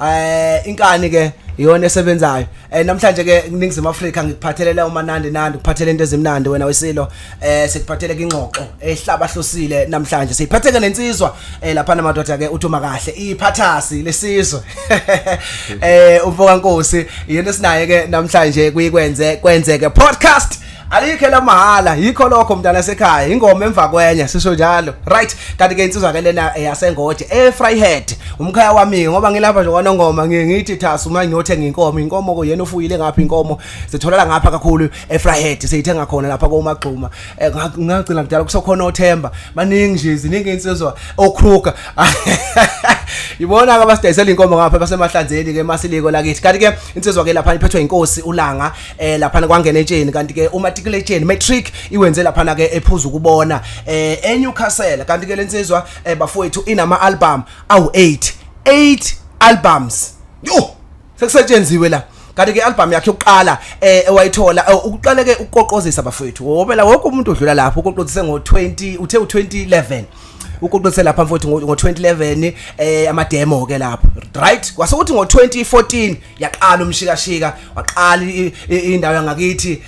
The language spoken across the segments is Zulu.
eh inkani ke iyona esebenzayo eh namhlanje ke ningizimu Afrika ngikuphathelele umanandi nandi ukuphathele into ezimnandi wena wesilo eh sikuphathele ingxoxo ehlaba hlosile namhlanje siphatheke nensizwa eh lapha namadoda ke uthuma kahle iphathasi lesizwe eh umfoka nkosi iyona esinaye ke namhlanje kuyikwenze kwenzeke podcast alikho elamahhala yikho lokho mntana sekhaya ingoma emva kwenye sisho njalo right kanti ke insizwa ke lena yasengoje e fryhead umkhaya wami ngoba ngilapha nje kwanongoma ngithi thasa uma ngiyothenga inkomo inkomo ko yena ufuyile ngapha inkomo sitholala ngapha kakhulu e fryhead seyithenga khona lapha komagxuma eh, ngagcina kudala kusokhona othemba baningi nje ziningi insizwa okruka ibona ke abasidayisela inkomo ngapha basemahlanzeni ke masiliko lakithi kanti ke insizwa ke lapha iphethwe inkosi ulanga eh laphana kwangena etsheni kanti ke umatriculation matric iwenze laphana ke ephuza ukubona eh eNewcastle kanti ke lensizwa eh, bafowethu inama album awu 8 8 albums yo sekusetshenziwe la kanti ke album yakhe yokuqala eh ewayithola eh, ukuqale ke ukuqoqozisa bafowethu ngoba la wonke umuntu odlula lapho uqoqozise ngo 20 uthe u 2011 ukuqoqise lapha mfowethu ngo 2011 eh ama demo ke lapho right kwase kuthi ngo 2014 yaqala umshikashika waqala indawo yangakithi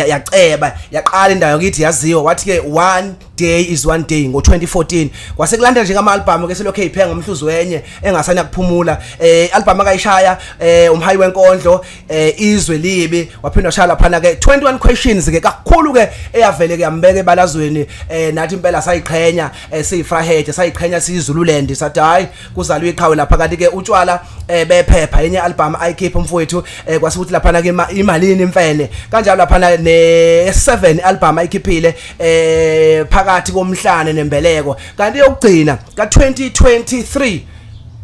yaceba yaqala indawo yakithi yaziwa wathi ke one day is one day ngo2014 kwase kulanda nje ngama album ke selokhe ipheka ngomhluzi wenye engasana kuphumula eh album akayishaya eh umhayi wenkondlo eh izwe libi waphinda shaya laphana ke 21 questions ke kakhulu ke eyavele ke yambeke balazweni eh nathi impela sayiqhenya eh siyifraheje sayiqhenya siyizululand sathi hayi kuzalwa iqhawe lapha kanti ke utshwala eh, bephepha enye album ayikhipha umfowethu eh, kwasukuthi lapha na ke imalini imfene kanjalo lapha na ne 7 album ayikhiphile eh phakathi komhlane nembeleko kanti yokugcina ka 2023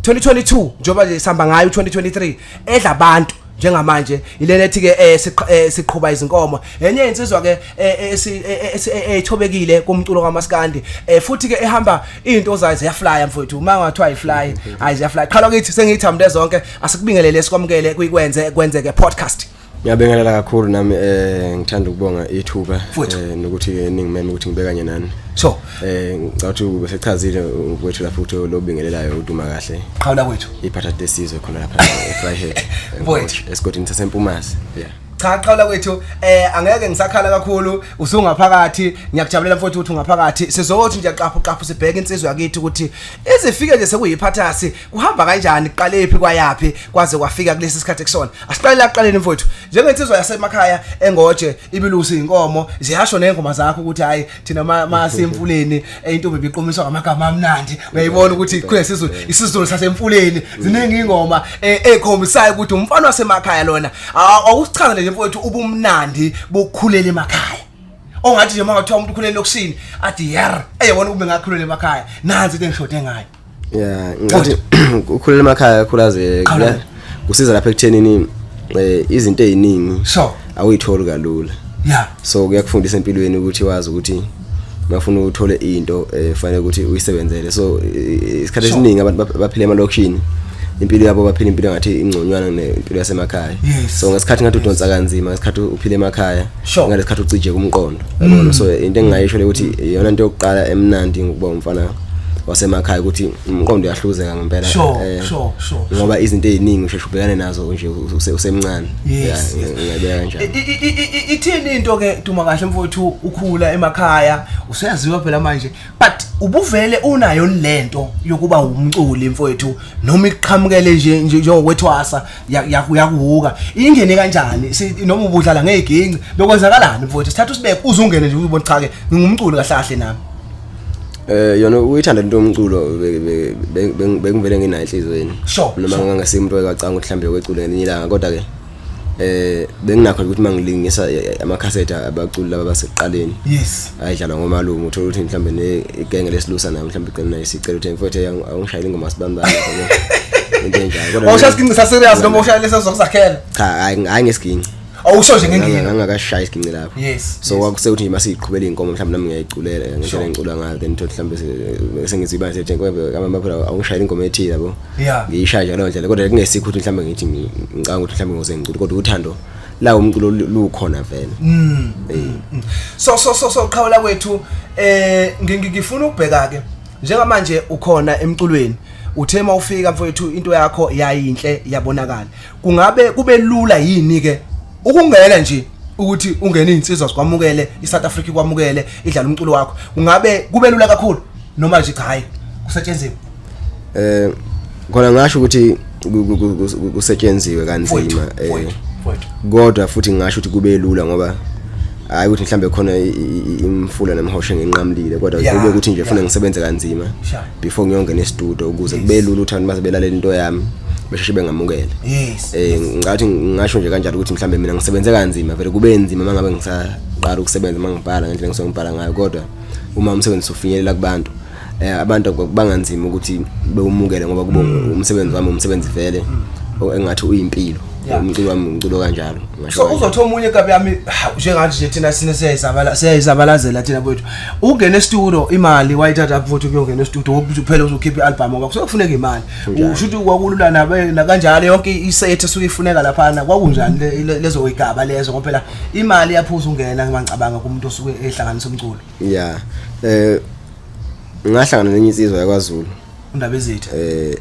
2022 njoba sihamba ngayo 2023 edla abantu njengamanje ilena ethi ke eh, eh, siqhuba izinkomo enye insizwa ke eh, ethobekile kumculo kamaskandi futhi ke ehamba into zayo ziyaflya mfowethu uma ngathiwa ifly hayi ziyaflya qhala kithi sengithamde zonke asikubingelele sikwamukele kuyikwenze kwenzeke podcast Ngiyabingelela kakhulu nami eh ngithanda ukubonga ithuba eh nokuthi ke ningimeme ukuthi ngibe kanye nani. So, Eh ngicabanga ukuthi besechazile kwethu lapho ukuthi lobingelelayo uduma kahle. Qhawula kwethu. Iphatha lesizwe khona lapha eFryhead. Mfowethu esigodini saseMpumazi. Yeah. cha qhawula kwethu eh angeke ngisakhala kakhulu usungaphakathi ngiyakujabulela mfowethu ukuthi ungaphakathi sizothi nje qaphu qaphu sibheke insizwe yakithi ukuthi izifike nje sekuyiphathasi kuhamba kanjani kuqale phi kwayaphi kwaze kwafika kulesi sikhathi kusona asiqale la kuqaleni mfowethu njengensizwa yasemakhaya engoje ibilusi inkomo ziyasho nezingoma zakho ukuthi hayi thina masemfuleni intombi biqomiswa ngamagama amnandi uyayibona ukuthi khule sizulu isizulu sasemfuleni ziningi ingoma ekhombisayo ukuthi umfana wasemakhaya lona awusichaza nje mfowethu ubumnandi bokukhulela emakhaya ongathi nje mawathiwa umuntu ukhulele lokushini athi yer eyebona ukube ngakhulela emakhaya nansi into engishode ngayo yeah ngathi ukhulela emakhaya khulaze kusiza lapha ekuthenini eh, izinto eziningi so awuyitholi kalula yeah so kuyakufundisa empilweni ukuthi wazi ukuthi bafuna uthole into efanele eh, ukuthi uyisebenzele so isikhathi esiningi abantu baphila emalokishini impilo yabo baphila impilo ngathi ingconywana nempilo yasemakhaya so ngesikhathi ngathi udonsa kanzima ngesikhathi uphile emakhaya ngalesikhathi ucije kumqondo mm. so into engingayisho le ukuthi iyona into yokuqala emnandi ngokuba umfana wasemakhaya ukuthi umqondo uyahluzeka ngempela sure, eh, sure, sure, ngoba izinto eziningi usheshe ubhekane nazo nje usemncane yes, yeah, ngiyabeka kanjalo ithini into ke duma kahle mfowethu ukhula emakhaya useyaziwa phela manje but ubuvele unayo lento yokuba umculi mfowethu noma iqhamukele nje njengokwethwasa Ya- ya- uyakuhuka ingene kanjani Si- noma ubudlala ngey'ginci bekwenzakalani mfowethu sithatha usibeke uze ungene nje uzibona cha-ke ngingumculi kahle kahle nami Eh yona uyithanda into yomculo be- be- be- be- bengivele nginayo enhlizweni. Sure, Noma sure. ngangasiye umuntu oyacanga ukuthi mhlambe wecula ngelinye ilanga kodwa ke eh benginakho ukuthi mangilingisa eh, ama cassette abaculi laba baseqaleni. yes ayidlalwa ngomalume uthola ukuthi mhlawumbe negenge lesilusa nayo mhlawumbe igcina nayo sicela ukuthi mfowethu awungishayeli ingoma sibambane into enjalo kodwa awushaya isiginci saserious noma ushaya lesa sokuzakhela cha hayi hayi ngesiginci awusho nje ngengiyo ngangakashaya isiginci lapho yes so kwakuse ukuthi nje siqhubela inkomo mhlawumbe nami ngiyayiculela ngendlela engicula ngayo then thothi mhlawumbe sengizwe ibani sethi ngoba abanye baphela awungishayela ingoma ethile yabo ngiyishaya nje ngalo ndlela kodwa kungesikho ukuthi mhlawumbe ngithi ngicanga ukuthi mhlawumbe ngose ngicula kodwa uthando la umculo lukhona vele mm. eh. mm. so so so so qhawula kwethu eh ngifuna ukubheka ke njengamanje ukhona emculweni uthe mawufika mfowethu into yakho yayinhle yabonakala kungabe kube lula yini ke ukungena nje ukuthi ungene insizwa sikwamukele iSouth Africa kwamukele idlala umculo wakho ungabe kubelula kakhulu noma nje cha hayi kusetshenziswa eh khona ngasho ukuthi kusetshenziwe kanzima eh kodwa futhi ngasho ukuthi kube lula ngoba hayi ukuthi mhlambe khona imfula nemhoshe nginqamlile kodwa kube ukuthi nje funa ngisebenze kanzima before ngiyongena e-studio ukuze kube lula ukuthi abantu bazebelalela into yami besheshe bengamukele yes eh ngathi ngasho nje kanjalo ukuthi mhlambe mina ngisebenze kanzima vele kube nzima mangabe ngisaqala ukusebenza mangibhala ngendlela ngisongibhala ngayo kodwa uma umsebenzi ufinyelela kubantu eh abantu banganzima ukuthi bewumukele ngoba kubo mm. umsebenzi wami umsebenzi vele mm. engathi uyimpilo umculo wami umculo kanjalo so uzothi omunye kabi yami njengathi nje thina sine siyayizabala siyayizabalazela thina kwethu ungena estudio imali wayithatha futhi kuyongena estudio kuphela uzokhipha ialbum ngoba kusokufuneka imali ushuthi kwakulula nabe nakanjalo yonke isethe suke ifuneka lapha na kwakunjani lezo igaba lezo ngoba phela imali yaphuza ungena ngicabanga kumuntu osuke ehlanganisa umculo yeah eh ngahlangana nenye insizwa yakwaZulu undaba ezithi eh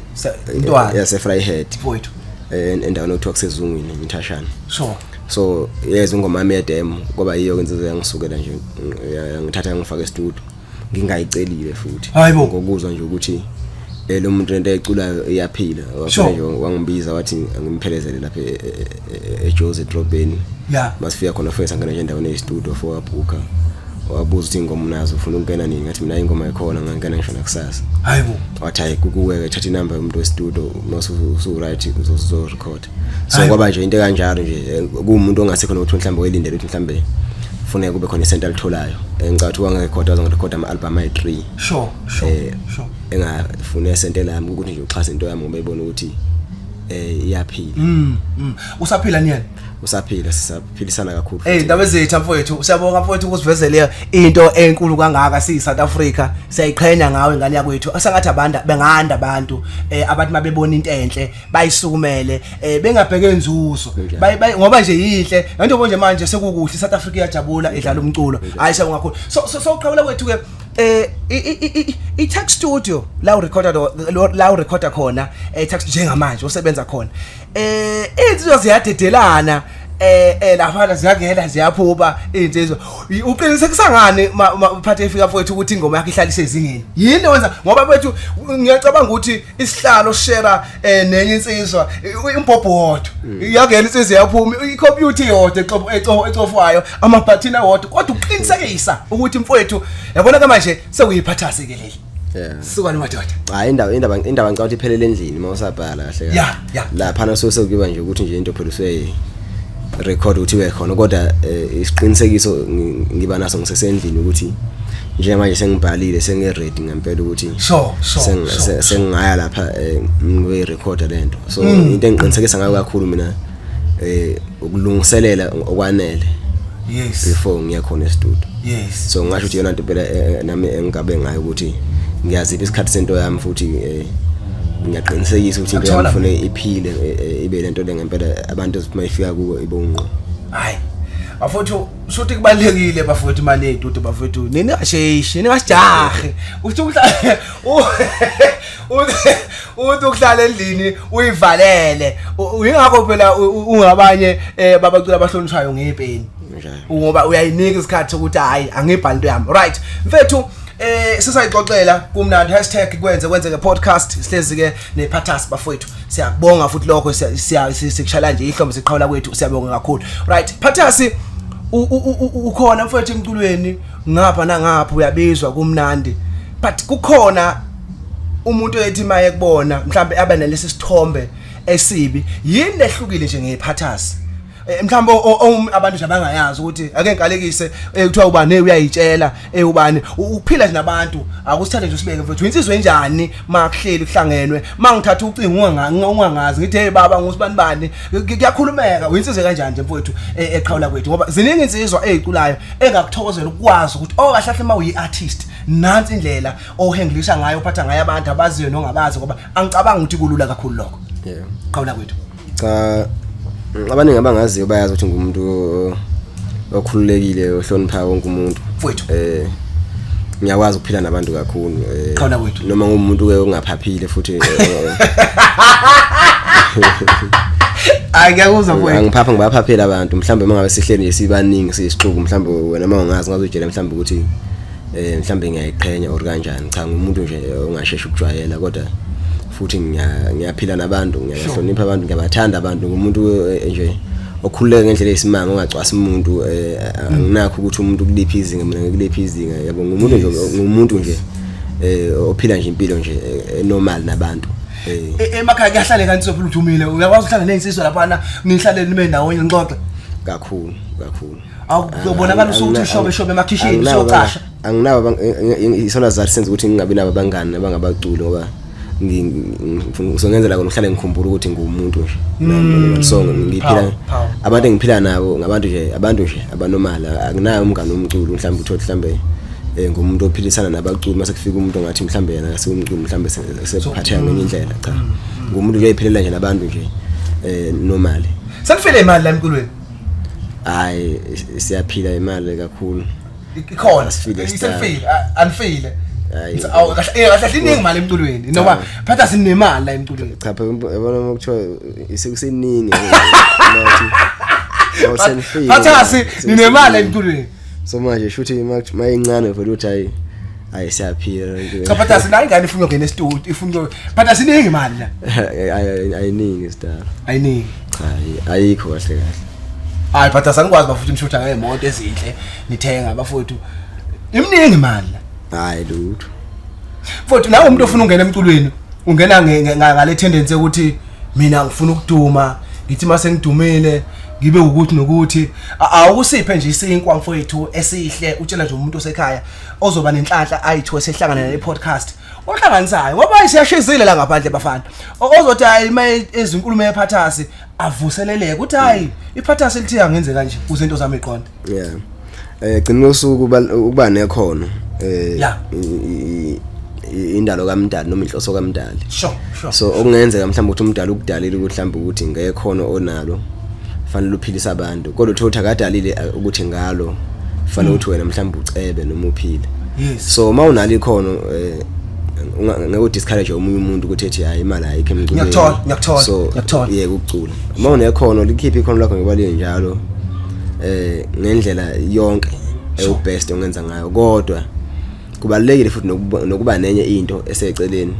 intwana yase Fryhead mfowethu eh endaweni okuthiwa kusezungwini inthashana sure so yeza ingoma yami yedemo kwaba yiyo insizwa yangisukela nje yangithatha yangifaka estudio ngingayicelile futhi ngokuzwa nje ukuthi eh, lo muntu lento eculayo iyaphila wafanele wangibiza wathi ngimphelezele lapha eh, eh, e, ejozi edrobheni yeah. masifika khona funa sangena nje endaweni eyistudio for wabhukha wabuza ukuthi ingoma unazo ufuna ukungena nini ngathi mina ingoma ikhona ngangena ngisho nakusasa hayibo wathi hayi kukuweke thatha inamba yomuntu westudio nosuwuright uzozorecord so kwaba nje into kanjalo nje eh, kuwumuntu ongasekho nokuthi mhlawumbe welindele ukuthi mhlawumbe kufuneka kube khona isento alitholayo eh, ngicabanga ukuthi wangerekhoda azongirekhoda ama-albhamu ayi-three sure sure eh, sure engafune esente lami ukuthi nje uxhase into yami ngoba ibona ukuthi eh iyaphila mm, mm. usaphila niyena usaphila sisaphilisana kakhulu eh ndabe zethu mfowethu siyabonga mfowethu ukusivezele into enkulu kangaka siyi South Africa siyayiqhenya ngawe ngane yakwethu asangathi abantu benganda abantu eh abantu mabebona into enhle bayisukumele eh bengabheke nzuzo ngoba nje yinhle njengoba nje manje sekukuhle South Africa iyajabula idlala umculo ayisha ngakhulu so so uqhawula kwethu ke eh i- i- i- i- i-tax studio la urecorda do- lo- la urecorda khona eh tax njengamanje osebenza khona eh insizwa ziyadedelana eh eh lafana ziyangena ziyaphuba insizwa Y- uqinise kusangani ma- ma- mphathi efika mfowethu ukuthi ingoma yakhe ihlale isezingeni yini wenza ngoba mfowethu ngiyacabanga ukuthi isihlalo share eh nenye insizwa umbhobho wodwa mm. yangena insizwa yaphuma icomputer yodwa exobo exobo exofwayo amabhathini awodwa kodwa uqinisekisa ukuthi mfowethu yabona ke manje sekuyiphathase ke leli sukani madoda hayi indaba indaba indaba ngicabanga ukuthi iphelele endlini uma usabhala kahle yeah, yeah. lapha naso sekuyiba nje ukuthi nje into phela usuye record ukuthi ibe khona kodwa eh, isiqinisekiso ngiba naso ngisesendlini ukuthi njengamanje sengibhalile sengiready ngempela ukuthi so so sengingaya lapha eh, ngibe record lento so mm. into engiqinisekisa ngayo kakhulu mina eh ukulungiselela okwanele yes before ngiya khona estudio yes so ngasho ukuthi yona into phela eh, eh, nami engigabe ngayo ukuthi ngiyazipha isikhathi sento yami futhi ngiyaqinisekisa ukuthi into yami ngifune iphile ibe lento lengempela abantu uma ifika kuwo ibonqo hayi bafowethu shothi kubalekile bafowethu imali yeyitutu bafowethu nini asheyishi nini asijahe uthi uhlale uthi uhlale endlini uyivalele uyingakho phela ungabanye eh, babacula abahlonishwayo ngepeni ngoba uyayinika isikhathi sokuthi hayi angibhali into yami right mfethu eh sisayixoxela kumnandi hashtag kwenze kwenzeke podcast sihlezi ke nephathasi bafowethu siyakubonga futhi lokho sikushayela nje ihlombe siqhawula kwethu siyabonga kakhulu right phathasi ukhona mfowethu emculweni ngapha nangapha uyabizwa kumnandi but kukhona umuntu ethi maye kubona mhlambe abe nalesi sithombe esibi yini lehlukile nje ngeyiphathasi Eh, mhlawumbe o- o- o- abantu nje abangayazi ukuthi ake ngikalekise eh, kuthiwa ubani eh, uyayitshela eh, ubani U- ukuphila nje nabantu akusithathe nje usibeke mfethu insizwe enjani ma kuhleli kuhlangenwe ma ngithatha ucingo unganga- unga- ungangazi ngithi hey baba ngusibani bani Ku- kuyakhulumeka uyinsizwe kanjani nje mfethu eh, eqhawula kwethu ngoba ziningi insizwa eziculayo engakuthokozela ukwazi ukuthi oh kahle kahle ma uyi-artist nansi indlela ohengilisha ngayo uphatha ngayo abantu abaziyo nongabazi ngoba angicabangi ukuthi kulula kakhulu lokho Yeah. qhawula kwethu cha abaningi abangaziyo bayazi ukuthi ngumuntu okhululekile ohlonipha wonke umuntu mfowethu eh ngiyakwazi ukuphila nabantu kakhulu eh, khona kwethu noma ngumuntu ke ongaphaphile futhi eh, hayi ngiyakuzwa mfowethu angiphapha ngibaphaphela abantu mhlawumbe mangabe sihleli nje sibaningi siyisixuku mhlawumbe wena uma ungazi ngazojela mhlawumbe ukuthi eh mhlambe ngiyayiqhenya or kanjani cha ngumuntu nje ongasheshe ukujwayela kodwa futhi ngiyaphila nabantu ngiyahlonipha abantu ngiyabathanda abantu ngumuntu eh, nje okhululeke ngendlela eyisimanga ongacwasa umuntu eh, mm. anginakho ukuthi umuntu kuliphi izinga mina ngikuliphi izinga yabo ngumuntu nje ngumuntu nje eh ophila nje impilo nje eh, normal nabantu e, emakhaya kuyahlale kanti sophela uthumile uyakwazi ukuhlala nezinsizwa lapha na nihlale nibe ndawonye nixoxe kakhulu kakhulu awubonakala usukuthi ushobe shobe emakhishini siyocasha anginabo isona zathi senza ukuthi ngingabi nabo abangani abangabaculi ngoba ngizongenzela kona uhlale ngikhumbula ukuthi ngumuntu nje mm. so ngiphila abantu engiphila nabo ngabantu nje abantu nje abanomali akunayo umngane omculo mhlawumbe uthole mhlawumbe eh, ngumuntu ophilisana nabaculi mase kufika umuntu ongathi mhlawumbe yena asiwumculi mhlawumbe sephatheka ngenye indlela cha mm, mm. ngumuntu nje ephilela nje nabantu nje eh nomali sekufele imali la emculweni hayi siyaphila imali kakhulu ikhona isefile anifile kahlahliningi eh, imali emculweni noma phatha sinemali la emculweni cha phela yabona uma kuthiwa isekuseningi phatha si ninemali emculweni so manje shuthi mayincane vele uthi hayi hayi siyaphila cha phatha sinayo ingane ifuna ukungena estudio ifuna phatha siningi imali la ayiningi star ayiningi hayi ayikho kahle kahle hayi but asanikwazi bafuthu nishutha ngeemoto ezinhle nithenga bafuthu imningi imali la hayi lutho futhi nawe umuntu ofuna ungena emculweni ungena nge- nge- nga- ngale tendency yokuthi mina ngifuna ukuduma ngithi mase ngidumile ngibe ukuthi nokuthi A- awukusiphe nje isinkwa mfowethu esihle utshela nje umuntu osekhaya ozoba nenhlanhla ayithiwe sehlangana ne podcast ohlanganisayo ngoba isiyashizile la ngaphandle bafana ozothi hayi uma ezinkulumo yephathasi avuseleleke uthi hayi iphathasi lithi angenze kanje kuze into zami iqonde yeah eh gcina usuku ukuba nekhono eh indalo kamdali noma inhloso kamdali sure sure so okungenzeka mhlawumbe ukuthi umdali ukudalile ukuthi mhlawumbe ukuthi ngekhono onalo fanele uphilise abantu kodwa uthe uthi akadalile eh, ukuthi ngalo fanele uthi wena mhlawumbe ucebe noma uphile yes so uma unalo ikhono eh, unga- ngeke udiscourage omunye umuntu ukuthi ethi hayi imali ayikho emculweni Ngiyakuthola, ngiyakuthola, so ngiyakuthola. yeke ukucula uma unekhono likhiphe ikhono lakho ngoba linjalo eh ngendlela yonke ewubest ongenza ngayo kodwa kubalulekile futhi nokuba nenye into eseceleni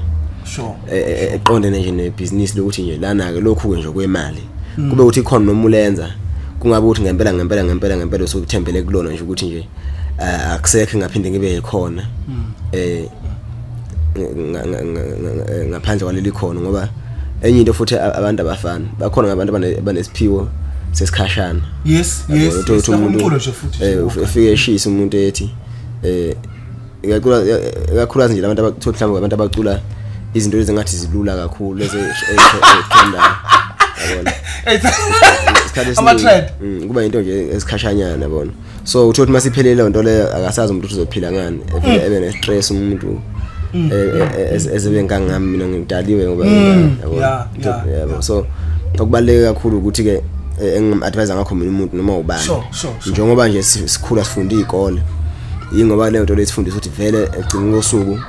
sure e, e, e, eqondene nje nebhizinisi lokuthi nje lana ke lokhu ke nje kwemali hmm. kube ukuthi khona noma ulenza kungabe ukuthi ngempela ngempela ngempela ngempela usukuthembele kulona nje ukuthi nje eh, akusekho ngaphinde ngibe yikhona hmm. eh ngaphandle kwaleli khono ngoba enye into futhi abantu abafana bakhona ngabantu abanesiphiwo sesikhashana yes yes umuntu nje futhi eh, ufike eshisa umuntu ethi eh ikakhulukazi nje labantu abathola mhlawumbe abantu abacula izinto ezingathi zilula kakhulu lezi ezithandayo yabona ama-trend mm, kuba yinto nje esikhashanyana bona so utho ukuthi masiphelele leyo nto leyo akasazi umuntu uzophila ngani mm. ebe ne-stress umuntu mm. e, e, e, ezebe ngangami mina ngidaliwe ngoba yabo so okubaluleke kakhulu ukuthi-ke engingam-advise ngakho mina umuntu noma ubani njengoba nje sikhula sifunda iy'kole yingoba leyo nto lesifundisa ukuthi vele egcina kosuku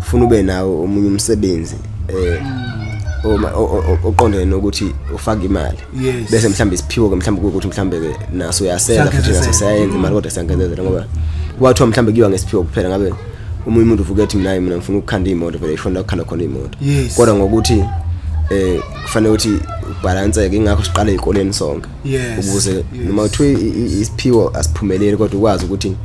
funa ube nawo omunye umsebenzi um oqondene nokuthi ufake imali bese mhlawumbe isiphiwo ke mhlawumbe ukuthi mhlawumbe ke naso uyasela futhi naso siyayenza imali kodwa siyankezezela ngoba kwathiwa mhlawumbe kuyiwa ngesiphiwo kuphela ngabe umunye umuntu uvuke ethi mina mina ngifuna ukukhanda imoto vele ishona ukukhanda khona imoto kodwa ngokuthi eh kufanele ukuthi ubhalanseke ingakho siqale ezikoleni sonke yes ukuze noma kuthiwa isiphiwo asiphumeleli kodwa ukwazi ukuthi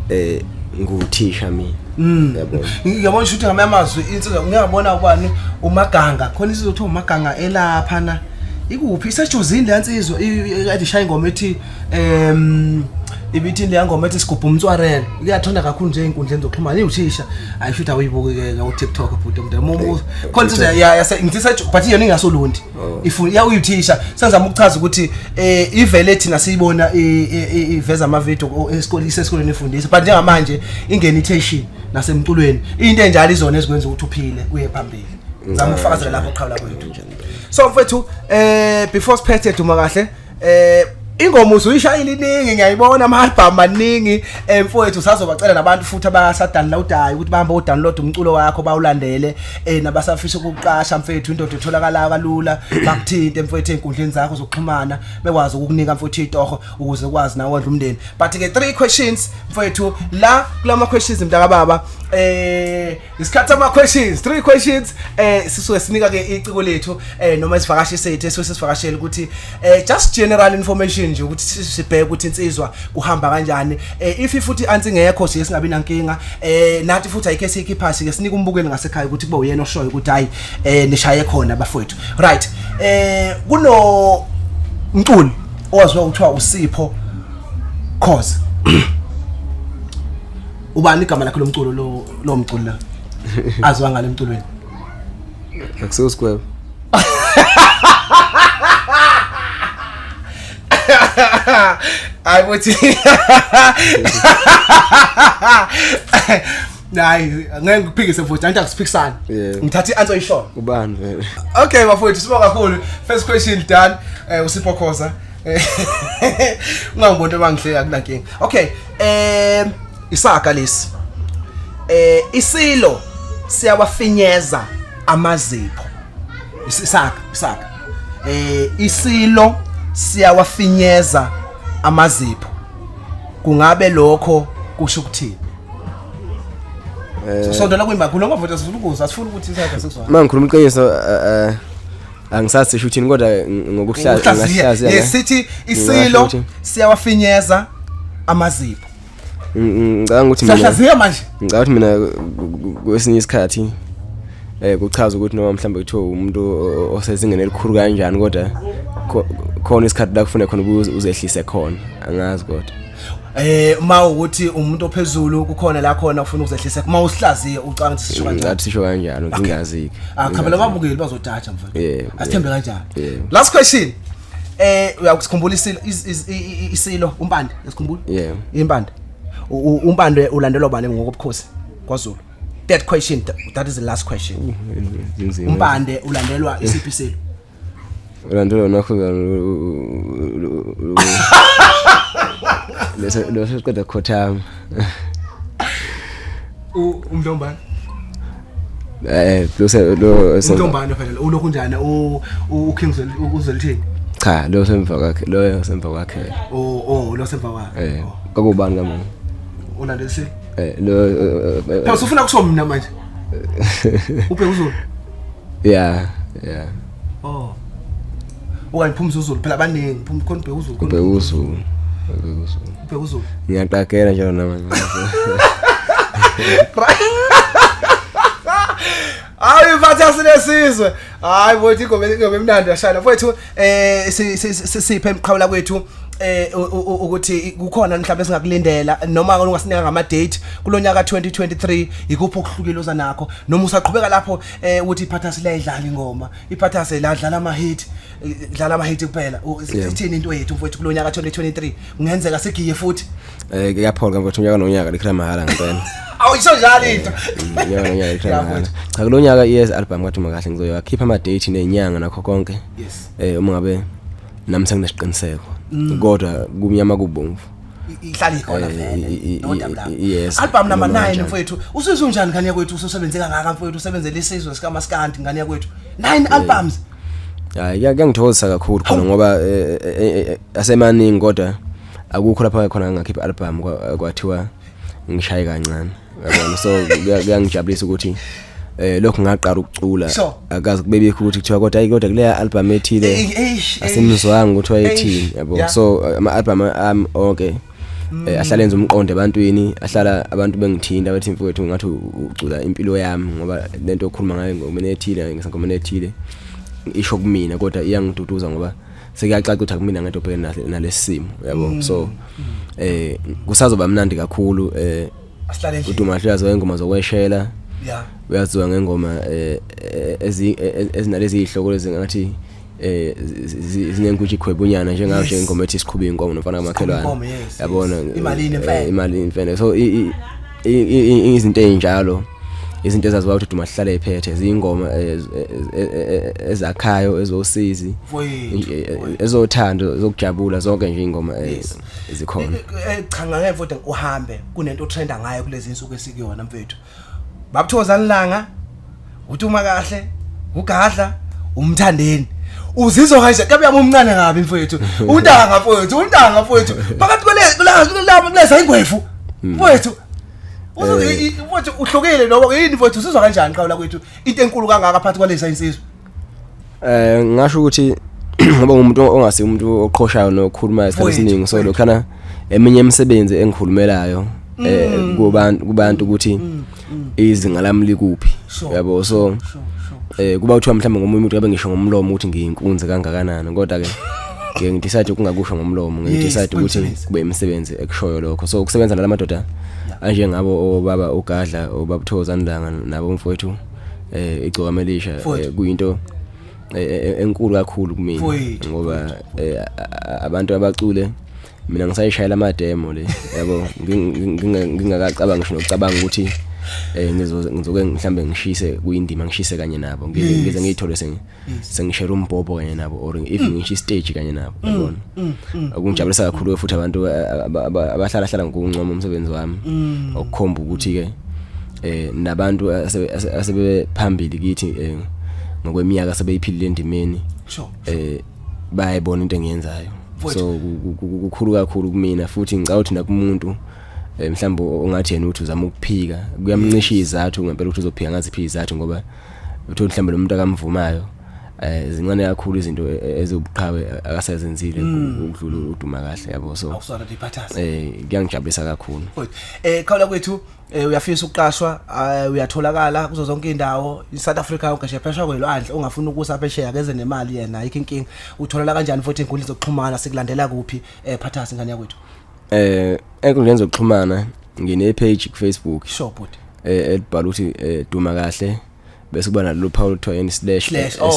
eh nguthisha mina mm. yabona yabona ukuthi ngamanye amazwi insizwa ngiyabona ubani umaganga khona isizwe kuthiwa umaganga elapha na ikuphi isejozini le nsizwa ikade ishaya ingoma ethi um ibithi le ngoma ethi sigubha umtswarela kuyathonda kakhulu nje inkundleni zokuxhumana iwuthisha ayishuthi awuyibukike ku TikTok bhuti mntu khona nje yase ngithe but yona ingasolundi Oh. ifuna ya uyithisha senzama ukuchaza ukuthi eh ivele thina siyibona iveza ama video esikoleni sesikoleni efundisa but njengamanje ingena iteshi nasemculweni into enjalo izona ezikwenza ukuthi uphile uye phambili ngizama ukufakazela lapho qhawula kwethu so mfethu eh before siphethe duma kahle eh ingoma uzuyishayile iningi ngiyayibona ama album maningi eh, mfowethu sazobacela nabantu futhi abasadownloadayo ukuthi bahambe udownload umculo wakho bawulandele eh nabasafisa ukuqasha mfowethu indoda etholakala kalula bakuthinte mfowethu ezinkundleni zakho zokuxhumana bekwazi ukukunika mfowethu itoho ukuze ukwazi nawe wondla umndeni but ke three questions mfowethu la kulama questions mntaka baba eh isikhathi ama questions three questions eh sisuke sinika ke iciko lethu eh noma isivakashi sethu esuke sisivakashela ukuthi eh just general information nje ukuthi sibheke ukuthi insizwa kuhamba kanjani eh if futhi ansi ngekho siye singabi nankinga eh nathi futhi ayike sikhi phasi ke sinika umbukeli ngasekhaya ukuthi kube uyena oshoyo ukuthi hayi eh nishaye khona bafowethu right eh kuno mculi owaziwa ukuthiwa usipho cause ubani igama lakhe lomculo lo lo mculo la azwa ngale emculweni akusiwo square hayi bothi hayi ngeke ngiphikise futhi anti akusiphikisani Yeah. ngithatha i-answer ishona ubani vele okay bafowethu sibonga kakhulu first question done eh usipho khoza ungangibonto bangihleka kunankinga okay eh isaga lesi eh isilo siyawafinyeza amazipho isaga isaga eh isilo siyawafinyeza amazipho kungabe lokho kusho ukuthini eh, sisondela kwimakulu ngoba vota sifuna ukuza sifuna ukuthi isakhe sizwa mangikhuluma iqiniso eh, eh angisazi sisho uthini kodwa ngokuhlaza ngahlaza yes sithi isilo siyawafinyeza amazipho ngicabanga ukuthi mina sahlaziya manje ngicabanga ukuthi mina kwesinye isikhathi eh kuchaza ukuthi noma mhlawumbe kuthiwa umuntu osezingeni elikhulu kanjani kodwa khona isikhathi la kufuneka khona uzehlise khona angazi kodwa eh uma ukuthi umuntu ophezulu kukhona la khona ufuna ukuzehlisa uma usihlaziye ucanga ukuthi sisho kanjani sisho kanjalo ngingazi akhabela ah, ababukeli bazojaja mfana asithembe kanjani last question eh uyakusikhumbula isilo isilo umpande esikhumbula yeah impande umpande ulandelwa bani ngokobukhosi kwaZulu that question that is the last question umpande ulandelwa isiphi isilo Ulandela nakho leso leso siqeda khothama. U umntombana. Eh, lo lo umntombana phela ulokhu njani u u King uzelithini? Cha, lo semva kwakhe, lo semva kwakhe. Oh, oh, lo semva kwakhe. Eh, oh. kakubani kamuntu. Ulandela si? Eh, lo eh, eh, eh, Phela usufuna kusho mina manje. Ubheka uzulu. yeah yeah oh okanye phuma uzulu phela abaningi phuma khona ubheka uzulu ubheka uzulu ubheka uzulu ngiyaqagela njalo namanje hayi mfathi asinesizwe hayi bothi ingoma ingoma emnandi yashana mfowethu eh sisiphe emqhawula kwethu eh ukuthi kukhona mhlawumbe singakulindela noma ungasinika ngama date kulonyaka 2023 ikuphi okuhlukile oza nakho noma usaqhubeka lapho eh ukuthi iphathasi layidlala ingoma iphathasi ladlala ama hit dlala ama hit kuphela ithini into yethu mfowethu kulonyaka 2023 kungenzeka sigiye futhi Eh kuyaphola kambe unyaka nonyaka likhela mahhala ngempela. Awuyisho njalo into. Unyaka nonyaka likhela mahhala. Cha kulonyaka yes album kathi makahle ngizoya khipha ama date nenyanga nakho konke. Yes. Eh uma ngabe nami senginesiqiniseko. Mm. Kodwa kumnyama kubomvu. ihlala ikhona eh, vele no doubt yes album number 9 mfowethu usizwe unjani ngane yakwethu ususebenze kangaka mfowethu usebenzele isizwe sika maskandi ngane yakwethu 9 eh. albums hayi kuyangithokozisa kakhulu khona ngoba eh, asemaningi kodwa akukho lapho ayekhona ngakhipha album kwathiwa ngishaye kancane yabona so kuyangijabulisa ukuthi eh lokho ngaqala ukucula akazi kubebikho ukuthi kuthiwa kodwa ayi kodwa kuleya album ethile asimizwanga ukuthi wayethini yabo so eh, ama album am okay mm. eh, ahlala enza umqondo ebantwini ahlala abantu bengithinta bathi mfowethu ngathi ucula impilo yami ngoba lento okhuluma ngayo ngomene ethile ngisangomene ethile isho kumina kodwa iyangiduduza ngoba sekuyacaca ukuthi akumina ngento obhekene nahle nalesimo yabo mm. so eh kusazoba mnandi kakhulu eh uDumahle uyazi wengoma zokweshela yeah uyaziwa ngengoma eh, eh, ezi eh, ezinalezi ihloko lezi ngathi eh zinenkuthi khwebunyana njengayo nje ingoma ethi siqhuba inkomo nomfana kamakhelwane yabona imali imfene so izinto ezinjalo izinto ezaziwa ukuthi duma sihlale ephethe zingoma eh, eh, eh, ezakhayo ezosizi ezothando zokujabula zonke nje ingoma ezikhona cha ngeke futhi uhambe kunento otrenda ngayo kulezi insuku esikuyona mfethu babuthokozani langa uthi uma kahle ugadla umthandeni uzizwa kanje kabe yami umncane ngabi mfowethu untanga mfowethu untanga mfowethu phakathi kwale kulapha kuleza ingwefu hmm. mfowethu eh. mfowethu uhlukile noma yini mfowethu usizwa kanjani qawula kwethu into enkulu kangaka phakathi kwaleza insizwa Eh ngasho ukuthi ngoba umuntu ongasi umuntu oqhoshayo nokhuluma isikhathi esiningi so lokhana eminye imisebenzi engikhulumelayo eh mm. kubantu kubantu ukuthi mm, mm. izinga lami likuphi yabo so eh kuba kuthiwa mhlawumbe ngomunye umuntu abe ngisho ngomlomo ukuthi ngiyinkunzi kangakanani kodwa ke ke ngidecide ukungakusho ngomlomo ngidecide ukuthi kube imisebenzi ekushoyo lokho so ukusebenza nalamadoda anjengabo obaba ugadla obabuthoza ndanga nabo mfowethu eh igcokama elisha eh, Futhi. kuyinto eh, eh, enkulu kakhulu kumina Futhi, ngoba eh, a- abantu abacule mina ngisayishayela amademo le yabo nging- nging- nginga- ngingakacabanga ngisho nokucabanga ukuthi eh, ngizo- ngizoke mhlambe ngishise kuyindima ngishise kanye nabo ngize ngize ngiyithole sengi- sengishela umbhobho kanye nabo or even mm. ngisho istage kanye nabo mm. yabona mm. okungijabulisa kakhulu futhi abantu abahlala hlala ngokuncoma umsebenzi wami okukhomba ukuthi ke eh nabantu asebephambili kithi eh, ngokweminyaka sebeyiphilile endimeni eh bayayibona into engiyenzayo so kukhulu kakhulu kumina futhi ngicabanga ukuthi nakumuntu eh, mhlawumbe ongathi yena uthi uzama ukuphika kuyamncisha izathu ngempela ukuthi uzophika ngaziphi izathu ngoba uthi mhlawumbe lo muntu akamvumayo eh zincane kakhulu izinto e, e, ezobuqhawe akasezenzile hmm. ukudlula uduma kahle yabo so awusona diphathaza eh kuyangijabulisa kakhulu eh khawula kwethu eh, uyafisa ukuqashwa eh, uyatholakala kuzo zonke indawo iSouth Africa yonke nje phesha kwelwandle ongafuni ukusa phesheya keze nemali yena ayikho inkinga utholala kanjani futhi inkundla zokuxhumana sikulandela kuphi eh phathaza ingane yakwethu eh enkundleni zokuxhumana ngine page ku Facebook sure bhuti eh elibhala ukuthi eh, duma kahle bese kuba nalelo phawu lothiwa yini slash slash oh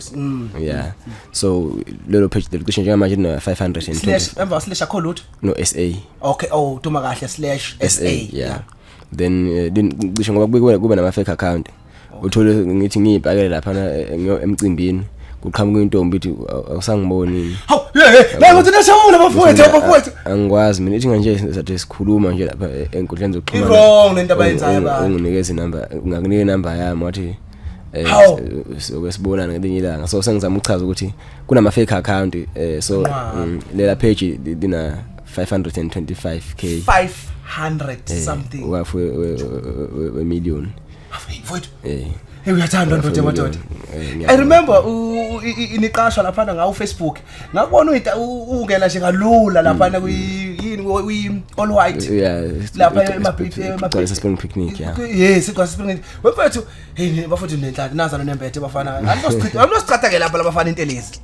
SA. mm. yeah so lelo page lelo cishe njengamanje lino 520 slash emva slash akho lutho no SA okay oh duma kahle slash SA yeah then eh, lin- cishe ngoba kube kube nama fake account uthole ngithi ngiyibhakele lapha emcimbini kuqhamuka intombi ithi awusangiboni hawu la ngothi nashamula bafowethu bafowethu angikwazi mina ithi kanje sathi sikhuluma nje lapha e, enkundleni zokuxhumana wrong lento abayenzayo ba unginikeza inamba ngakunike inamba yami wathi eh, soke sibonana ngelinye ilanga so sengizama ukuchaza ukuthi kunama fake account eh, so mm, lela page lina 525k 500 eh, something wafu we million mfowethu eh hey uyathandwa ndoda madoda eh, i remember iniqashwa laphana ngawo Facebook ngakubona uyita ungena nje kalula laphana mm. kuyini uyi all white lapha emabhithi emabhithi spring picnic yeah yes igwasa spring picnic wemfowethu hey bafowethu nenhlaka nazana nembethe bafana anosichitha anosichitha ke lapha labafana intelezi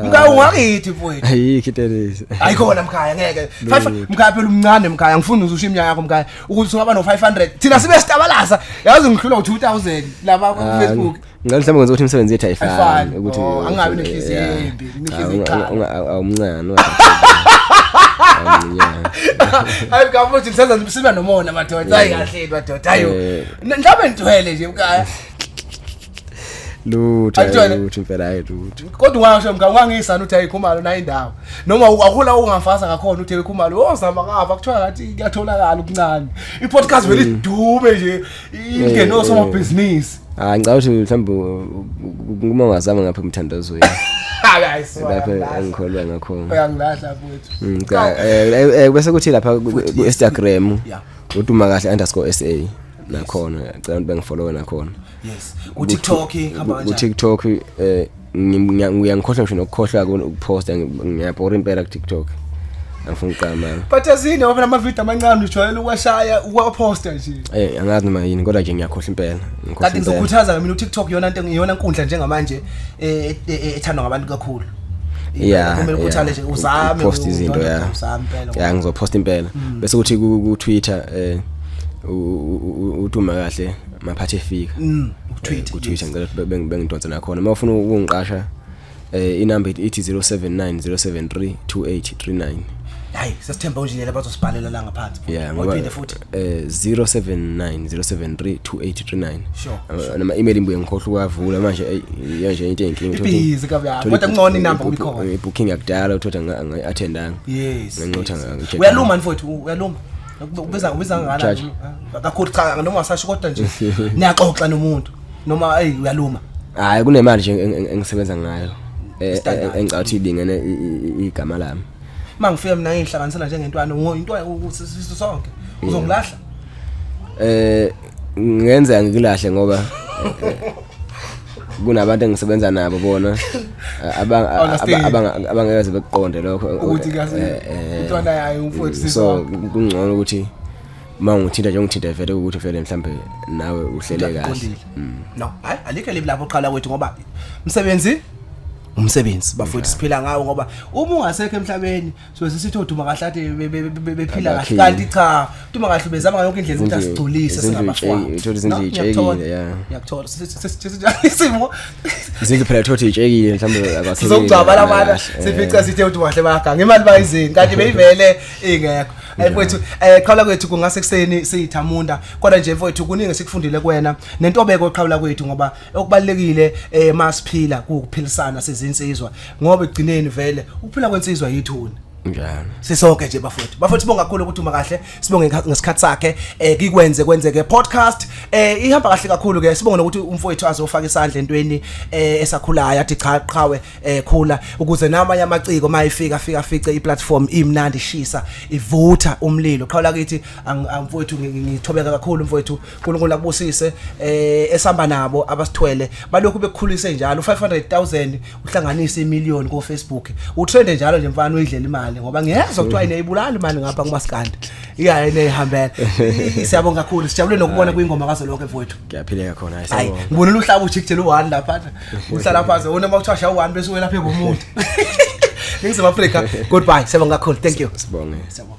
mkhaya ungakithi mfowethu ayikho itelezi ayikhona mkhaya ngeke mkhaya phela umncane mkhaya ngifuna uzusha iminyaka yakho mkhaya ukuthi singaba no500 thina sibe sitabalasa yazi ngihlula u2000 laba ku ah, Facebook ngani mhlawumbe ngenza ukuthi imisebenzi yethu ayifani ukuthi oh, angabi nenhliziyo embi nenhliziyo iqala awumncane hayi kafuthi ngisenza sibe nomona madoda hayi kahle madoda hayo eh. mhlawumbe ngithwele nje mkhaya lutho Ayitshwele. hayi, lutho impela hayi lutho kodwa ungasho mka ungangisani uthi ayikhumalo nayo indawo noma akula ungafasa ngakhona uthi ayikhumalo ozama kafa kuthiwa ngathi kuyatholakala okuncane i-podcast vele idume nje ingene Eh, osomabhizinisi hayi ngicabanga ukuthi mhlawumbe u- u- uma ungazama ngapha emthandazweni lapho engikholwa ngakhona uyangilahla futhi Mm, cha, eh, eh, eh, bese kuthi lapha ku- ku- ku-instagram Yeah. uduma kahle underscore sa nakhona ngicela ukuthi bengifollowe nakhona yes ku TikTok hamba kanjani ku TikTok eh ngiyangikhohlwa ngisho nokukhohlwa ukuphosta ngiyabhora impela ku TikTok angifuni uqama but azini ngoba lama video amancane ujwayele ukwashaya ukwaposta nje eh angazi noma yini kodwa nje ngiyakhohlwa impela ngikhohlwa kanti ngizokhuthaza mina uTikTok yona into iyona inkundla njengamanje eh, eh, eh, ethandwa ngabantu kakhulu yeah kumele ukhuthale nje uzame post izinto yeah uzame impela yeah ngizoposta impela hmm. bese kuthi ku Twitter eh uthi uma kahle maphathi efika mm ku Twitter ku Twitter ngicela ukuthi bengidonse nakhona uma ufuna ukungiqasha eh inumber ithi 079 073 2839 hayi sesithemba unjini laba bazosibhalela la ngaphansi yeah ngoba eh 0790732839 sure nama email imbuye ngikhohle ukwavula manje yanje into enkinga ibizi kabi kodwa ngcono inamba uyikhona booking yakudala uthola ngi attendanga yes nginqotha ngakho uyaluma mfowethu uyaluma Ubiza ubiza ngani? Kakhulu cha noma wasasho kodwa nje niyaxoxa nomuntu noma hey uyaluma. Hayi kunemali nje engisebenza ngayo. Eh, eh, eh, engicabanga ukuthi ilingene igama lami. Mangifika mina ngihlanganisela njengentwana into ukuthi sonke uzongilahla. Eh ngenzeka ngikulahle ngoba kunabantu engisebenza nabo bona abangeke bekuqonde lokho ukuthi eh, eh, intwana yayo umfowethu so kungcono ukuthi uma ngithinta nje ngithinta vele ukuthi vele mhlambe nawe uhlele kahle mm. no hayi alikho libi lapho qala kwethu ngoba msebenzi umsebenzi bafowethu siphila ngawo ngoba uma ungasekho emhlabeni so sisithi oduma kahle ade be- be- be- bephila kahle Abakhile. kanti cha uduma kahle ubezama ngayo yonke indlela ukuthi Izindlu- asigculise izindlu singabafana itshe- uthole izindlu No, ngiyakuthola. itshelile, yeah. ngiyakuthola Sisi- sisi- sisi- sisi- isimo izindlu phela thothi itshekile mhlawumbe akwasebenzi, sizokugcaba la bana kahle, eh. sifica sithe ukuthi wahle baganga imali bayizini kanti beyivele ingekho ayi mfowethu um qhawula kwethu kungase kuseni siyithamunda kodwa nje mfowethu kuningi esikufundile kuwena nentobeko qhawula kwethu ngoba okubalekile eh masiphila kuphilisana sizinsizwa ngoba egcineni vele ukuphila kwensizwa yithuna njalo sisonke nje bafowethu bafowethu sibonga kakhulu ukuthi uma kahle sibonge ngesikha- ngesikhathi sakhe eh kikwenze kwenzeke podcast eh ihamba kahle kakhulu ke sibonge nokuthi umfowethu azofaka isandla entweni eh esakhulayo athi cha qhawe eh khula ukuze namanye amaciko mayifika fika fice iplatform imnandi ishisa ivutha umlilo qhawula kithi ang- ang- mfowethu ngi- ngi- ngithobeka kakhulu mfowethu uNkulunkulu akubusise eh esamba nabo abasithwele balokhu bekukhulise njalo 500000 uhlanganisa imillion ku Facebook utrend njalo nje mfana uyidlela imali ngoba ngiyezwa kuthiwa ine ibulala imali ngapha kumaskandi iya ine ihambela siyabonga kakhulu sijabule nokubona kwingoma kazo lonke mfowethu ngiyaphileka khona hayi ngibona luhlaba ujikjela u1 lapha uhlala phansi wona makuthiwa sha u1 bese wena phezulu umuntu Ningizimu Afrika goodbye siyabonga kakhulu thank you sibonge siyabonga